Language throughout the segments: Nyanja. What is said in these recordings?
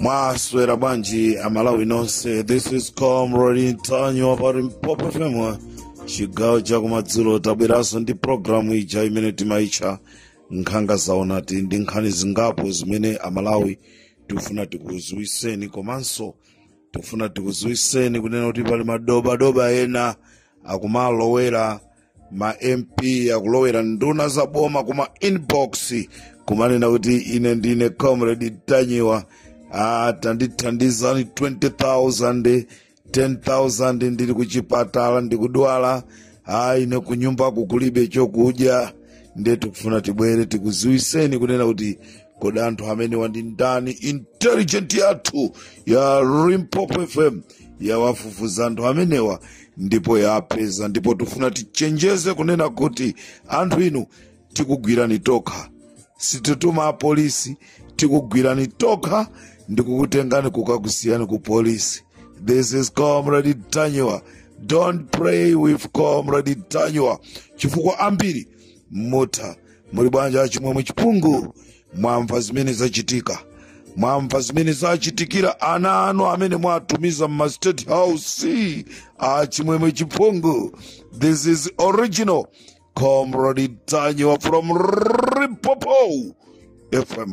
mwaswera bwanji amalawi nonse this is comrade ntanyiwa pa limpopo fm chigawo chakumadzulo tabweranso ndi programu ija imene timaitcha nkhanga zaonati ndi nkhani zingapo zimene amalawi tifuna tikuziwiseni komanso tikufuna tikuziwiseni kunena kuti pali madobadoba ena akumalowera ma mp akulowera nduna za boma kuma inbox kumanena kuti ine ndine comrade ntanyiwa ah, tandithandizani 20000 10000 ndili kuchipatala ndikudwala ah, ine kunyumba kukulibe chokudya ndiye tikufuna tibwere tikuziwiseni kunena kuti kodi anthu amenewa ndi ndani intelligent yathu ya limpopo fm yawafufuza anthu amenewa ndipo yapeza ndipo tifuna tichenjeze kunena kuti anthu inu tikugwirani tokha sitituma apolisi tikugwirani tokha ndikukutengani kukakusiyani ku polisi this is comrade ntanyiwa don't play with comrade ntanyiwa chifukwa ambiri mutha muli bwanji achimwemwe chipungu mwamva zimene zachitika mwamva zimene zachitikira ana anu amene mwatumiza mma state house achimwemwe chipungu this is original comrade ntanyiwa from limpopo fm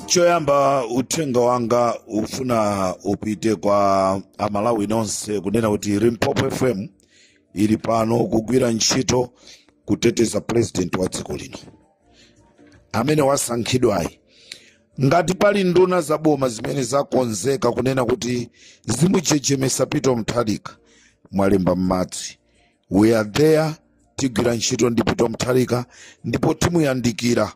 choyamba uthenga wanga ufuna upite kwa amalawi nonse kunena kuti limpopo fm ili pano kugwira ntchito kuteteza purezidenti wa dziko lino amene wasankhidwayi ngati pali nduna za boma zimene zakonzeka kunena kuti zimuchechemesa peter mutharika mwalemba m'madzi we are there tigwira ntchito ndi peter mutharika ndipo timuyandikira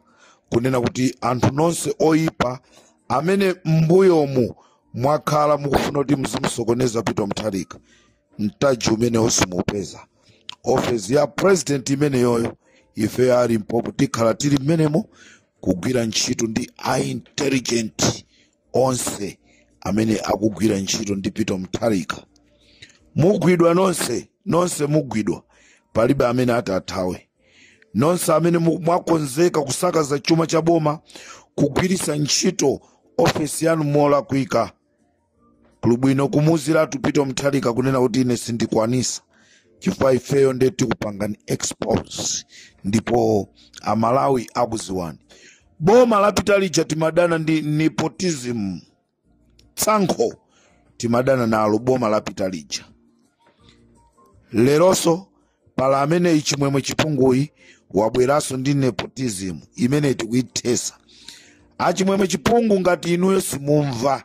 kunena kuti anthu nonse oyipa amene m'mbuyomu mwakhala mukufuna kuti muzimusokoneza peter mutharika mtaji umenewo simuupeza ofesi ya president imeneyoyo ifeyo a limpopo tikhala tili mmenemo kugwira ntchito ndi a intelligent onse amene akugwira ntchito ndi peter mutharika mugwidwa nonse nonse mugwidwa palibe amene ati athawe nonse amene mu- mwakonzeka kusakaza chuma cha boma kugwiritsa ntchito ofesi yanu molakwika kuli bwino kumuuziratu peter mutharika kunena kuti ine sindikwanisa chifukwa ifeyo ndiye tikupangani expose ndipo amalawi akuziwani boma lapita lija timadana ndi nepotism tsankho timadana nalo boma lapita lija leronso pali ameneyi chimwemwe chipunguyi wabweranso ndi nepotism imene tikuithesa achimwemwe chipungu ngati inuyo simumva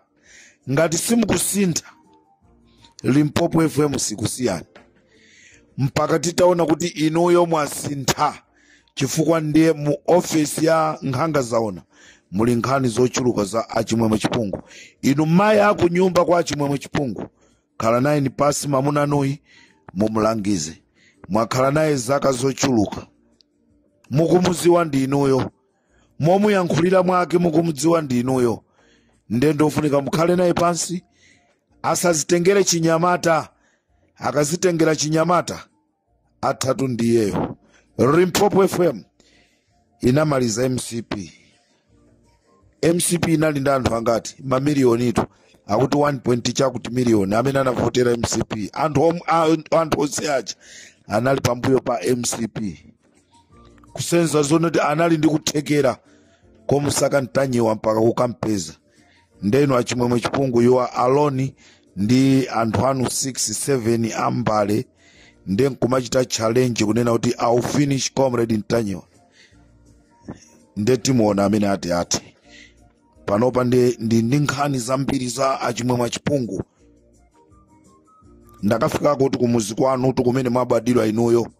ngati simukusintha limpopo fm sikusiyani mpaka titaona kuti inuyo mwasintha chifukwa ndiye mu ofesi ya nkhanga zaona muli nkhani zochuluka za achimwemwe chipungu inu mayi akunyumba kwa achimwemwe chipungu khala nayeni pansi mamunanuyi mumulangize mwakhala naye zaka zochuluka mukumuziwa ndi inuyo momuyankhulira mwake mukumudziwa ndi inuyo nde ndofunika mukhale naye pansi asazitengere chinyamata akazitengera chinyamata athatu ndiyeyo limpopo fm inamaliza mcp mcp inali ndi anthu angati mamiliyonitu akuti 1 chakuti miliyoni amene anavotera mcp anthu om- a- anthu onse aja anali pambuyo pa mcp kusonyeza zonoti anali ndi kuthekera komusaka ntanyiwa mpaka kukampeza nde inu achimwemwe chipungu you are alone ndi anthu anu 6 7 ambale nde nkumachita challenge kunena kuti i'll finish comrade ntanyiwa nde timuona amene ati ati panopa ndi ndi ndi nkhani zambiri za achimwemwe achipungu ndakafikako kuti kumuzi kwanu kuti kumene mwabadwira inuyo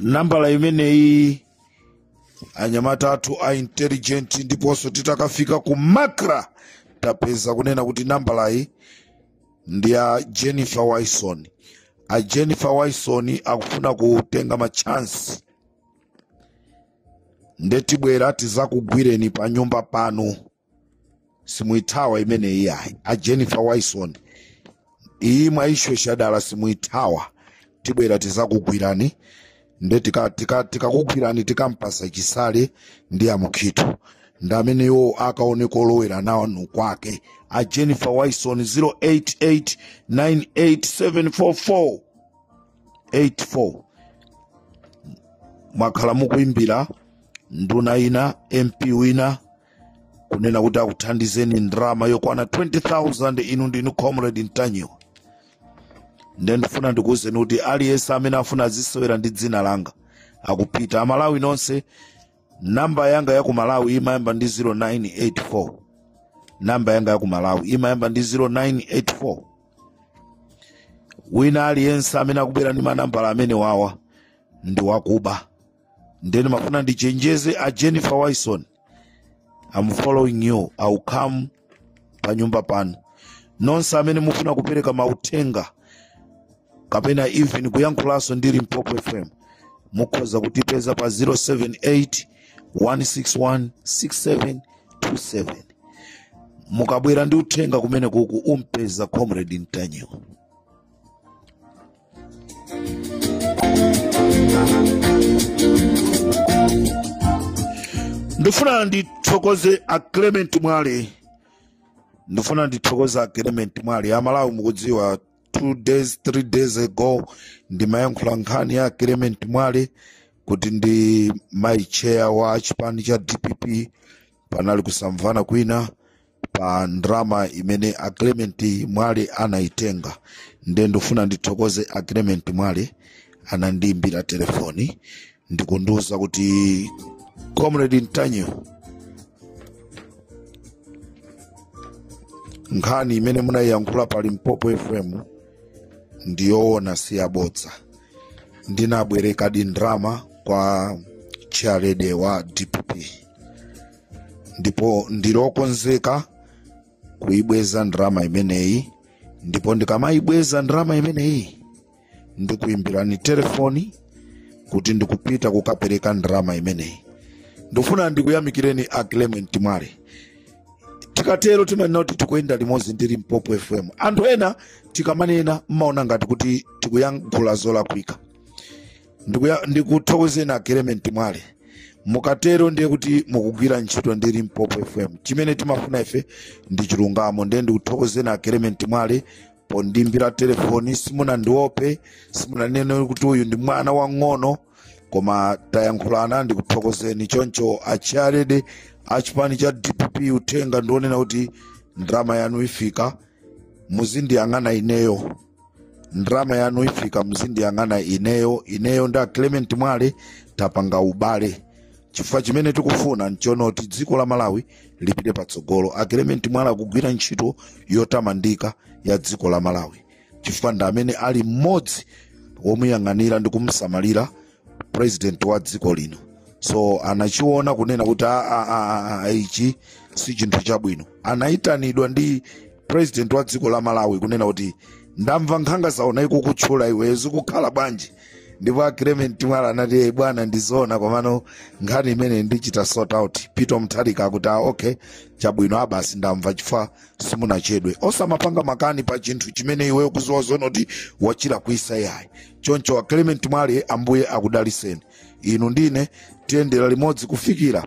nambala imeneyi anyamata athu a intelligent ndiponso titakafika ku macra tapeza kunena kuti nambalayi ndi ya jennifer wilson a jennifer wilson akufuna kutenga machansi nde tibwera tizakugwireni pa nyumba panu simuithawa imeneyi ayi a jennifer wilson iyi mwaishosha dala simuithawa tibwera tizakugwirani nde tikakugwirani tika, tika tikakugwirani tikampasa chisale ndi amukhito ndi amene iwo akaone kolowera nanu kwake a jennifer wilson 088 98744 84 mwakhala mukuimbira nduna ina mp wina kunena kuti akuthandizeni ndrama yokwana 20000 inu ndinu comrade ntanyiwa nde ndifuna ndikuwuzeni kuti aliyense amene afuna azisewera ndi dzina langa akupita amalawi nonse namba yanga ya ku malawi imayamba ndi 0984 namba yanga ya ku malawi imayamba ndi 0984 wina aliyense amene akubwera ndi manambala amene wawa ndi wakuba nde nimafuna ndichenjeze a jennifer wilson i'm following you i'll come pa nyumba pano nonse amene mufuna kupereka mauthenga kapena even kuyankhulanso ndi limpopo fm mukhoza kutipeza pa 078 161 6727 mukabwera ndi uthenga kumene kuku umpeza comrade ntanyiwa ndifuna ndithokoze a clement mwale ndifuna ndithokoze a clement mwale amalawi mukudziwa two days three days ago ndimayankhula nkhani ya clement mwale kuti ndi mai chair wa chipani cha dpp panali kusamvana kwina pa ndrama imene a clement mwale anayitenga nde ndifuna ndithokoze a clement mwale anandiimbira telefoni ndikundiuza kuti comrade ntanyiwa nkhani imene munayiyankhula pa limpopo fm ndiyoona si yabodza ndinabwerekadi ndrama kwa chairlady wa dpp ndipo ndili okonzeka kuibweza ndrama imeneyi ndipo ndikamayibweza ndrama imeneyi ndikuimbirani telefoni kuti ndikupita kukapereka ndrama imeneyi ndifuna ndikuyamikireni a clement mwale tikatero timanena kuti tikuyenda limodzi ndi limpopo fm anthu ena tikamanena mmaona ngati kuti tikuyankhula zolakwika Ndikuya- ndikuthokozeni a clement mwale mukatero ndiye kuti mukugwira ntchito ndi limpopo fm chimene timafuna ife ndi chilungamo ndiye ndikuthokozeni a clement mwale pondimbira telefoni simunandiope simunanene kuti uyu ndi mwana wang'ono koma tayankhulana ndikuthokozeni choncho a chairlady a chipani cha dpp uthenga ndionena kuti ndrama yanu ifika muzindiyang'ana ineyo ndrama yanu ifika muzindiyang'ana ineyo ineyo ndi a clement mwale tapanga ubale chifukwa chimene tikufuna nchonoti dziko la malawi lipite patsogolo a clement mwale akugwira ntchito yotamandika ya dziko la malawi chifukwa ndi amene ali mmodzi womuyang'anira ndi kumsamalira president wa dziko lino so anachiona kunena kuti "Ah, ah, ah, ah, ah, ichi si chinthu chabwino anayitanidwa ndi president wa dziko la malawi kunena kuti ndamva nkhanga zaona ikukutchula iwe zikukhala bwanji ndipo a clement mwale anati "Eh, bwana ndizoona komano nkhani imene ndichita sort out peter mtharika akuti "Ah, okay chabwino abasi ndamva chifukwa simunachedwe osamapanga makani pa chinthu chimene iweyo ukuziwa zonoti wachira kuisa yayi choncho a clement mwale ambuye akudaliseni inu ndine tiyendera limodzi kufikira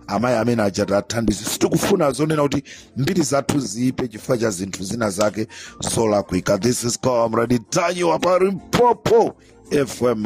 amayi amene aja tathandize sitikufuna zonena kuti mbiri zathu ziipe chifukwa cha zinthu zina zake zolakwika this is comrade ntanyiwa pa limpopo fm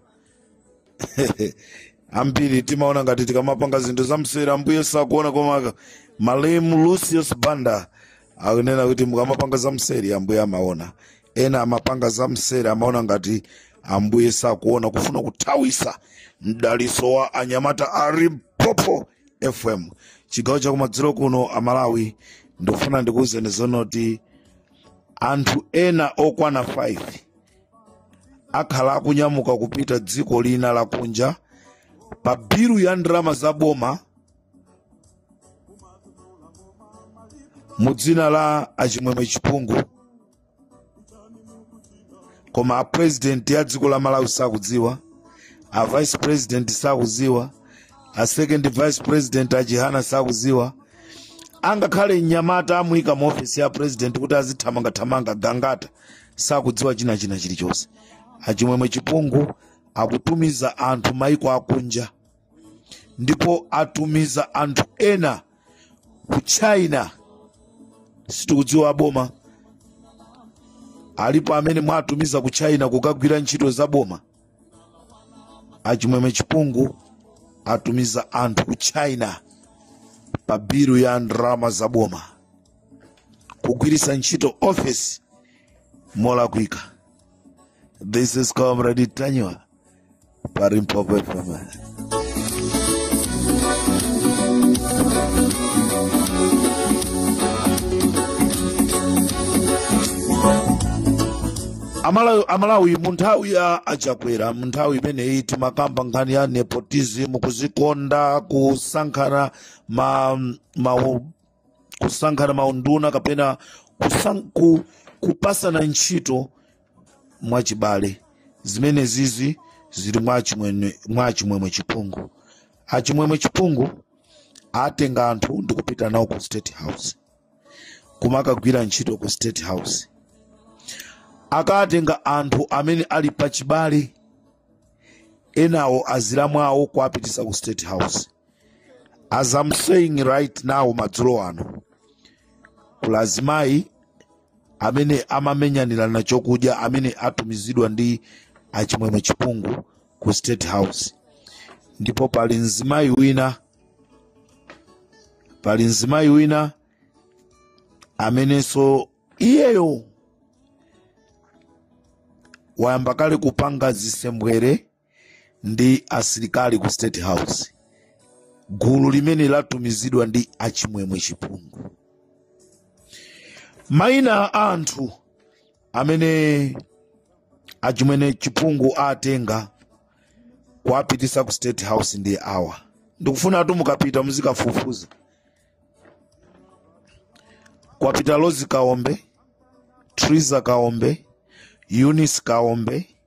ambiri timaona ngati tikamapanga zinthu zamseri ambuye sakuona koma malemu lucius banda akunena kuti mukamapanga zamseri ambuye amaona ena amapanga zamseri amaona ngati ambuye sakuona kufuna kuthawisa mdaliso wa anyamata a limpopo fm chigawo chakumadzulo kuno amalawi ndikufuna ndikuwuzeni zonoti anthu ena okwana 5 akhala akunyamuka kupita dziko lina lakunja pa bilu ya ndalama za boma mu dzina la achimwemwe chipungu koma a president ya dziko la malawi sakudziwa a vice president sakudziwa a second vice president a chihana sakudziwa angakhale mnyamata amuyika mu ofesi ya president kuti azithamangathamanga gangata sakudziwa china china chilichonse achimwemwe chipungu akutumiza anthu maiko akunja ndipo atumiza anthu ena ku china sitikudziwa aboma alipo amene mwatumiza ku china kukagwira ntchito za boma achimwemwe chipungu atumiza anthu ku china pa bilu ya ndalama za boma kugwiritsa ntchito office molakwika this is comrade ntanyiwa pa limpopo fm amalawi amalawi mu nthawi ya achakwera mu nthawi imeneyi timakamba nkhani ya nepotism kuzikonda kusankhana ma, ma kusankhana maunduna kapena kusan, ku, kupasana ntchito mwachibale zimenezizi zili mwa chimwemwe mwa chimwemwe chipungu achimwemwe chipungu atenga anthu ndi kupita nawo ku state house kumakagwira ntchito ku state house akatenga anthu amene ali pachibale enawo azilamu awo kuapitisa ku state house as i'm saying right now madzulo ano kuli azimayi amene amamenyanirana chokudya amene atumizidwa ndi achimwemwe chipungu ku state house ndipo pali mzimayi wina pali mzimayi wina amenenso iyeyo wayamba kale kupanga zisembwere ndi asilikali ku state house gulu limene latumizidwa ndi achimwemwe chipungu maina a anthu amene achimwene chipungu atenga kuwapitisa ku state house ndi awa ndikufuna anthu mukapita muzikafufuza kwapita lozi kaombe triza kaombe eunice kaombe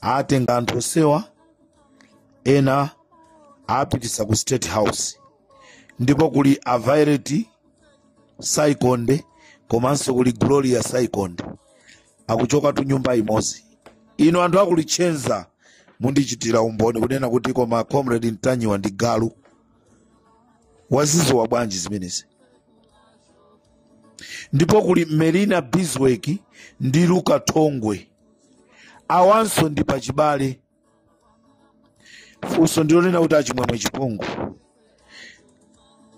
atenga anthu onsewa ena apitisa ku state house ndipo kuli a violet saikonde komanso kuli gloria saikonde akuchoka tu nyumba imodzi inu anthu akulitchenza mundichitira umboni kunena kuti koma comrade ntanyiwa ndi galu waziziwa bwanji zimenezi ndipo kuli melina biswek ndi luka thongwe awanso ndi pachibale funso ndilonena kuti achimwemwe chipungu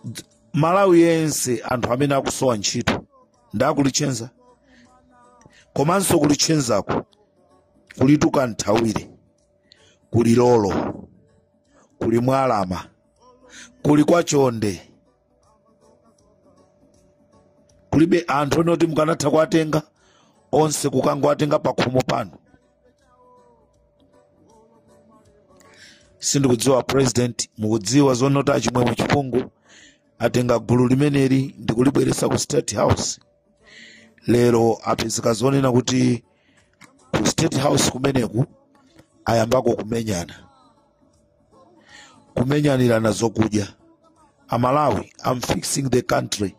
Dz- malawi yense anthu amene akusowa ntchito nda kulitchenza komanso kulitchenzako kuli tuka nthawire kuli lolo kuli mwalama kuli kwa chonde kulibe anthu ena oti mukanatha kuwatenga onse kukangowatenga pakhomo panu sindikudziwa president mukudziwa zonena kuti achimwemwe chipungu atenga gulu limeneli ndikulibweresa ku state house lero apezeka zonena kuti ku state house kumeneku ayambako kumenyana kumenyanirana zokudya amalawi i'm fixing the country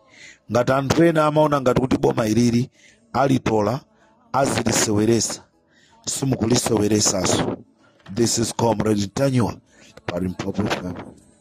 ngati anthu ena amaona ngati kuti boma ilili alitola aziliseweresa simukuliseweresaso this is comrade ntanyiwa pa limpopo fm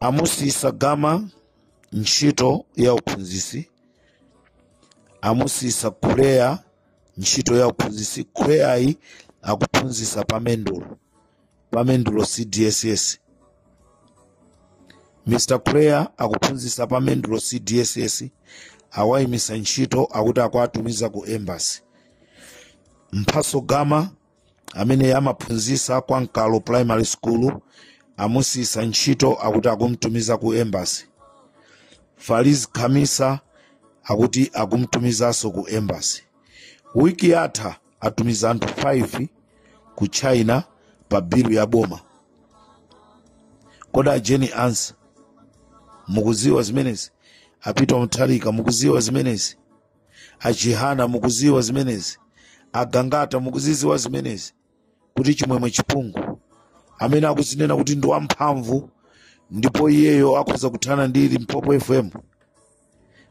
amusiyisa gama ntchito ya uphunzitsi amusiyisa kuleya ntchito ya uphunzitsi kuleyayi akuphunzitsa pa mendulo pa mendulo cdss mr kuleya akuphunzitsa pa mendulo cdss awayimisa ntchito akuti akuwatumiza ku embassy mphaso gama amene amaphunzitsa kwa mkalo primary school amusiyisa ntchito akuti akumtumiza ku embassy faliz khamisa akuti akumtumizanso ku embassy wiki yatha atumiza anthu 5 ku china pa bilu ya boma kodi a Jane Ansah mukuziwa zimenezi a Peter Mutharika mukuziwa zimenezi a Chihana mukuziwa zimenezi a Gangata mukuziziwa zimenezi kuti chimwemwe chipungu amene akuzinena kuti ndi wamphamvu ndipo iyeyo akhoza kuthana ndi limpopo fm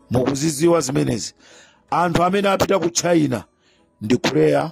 mukuziziwa zimenezi anthu amene apita ku china ndi kuleya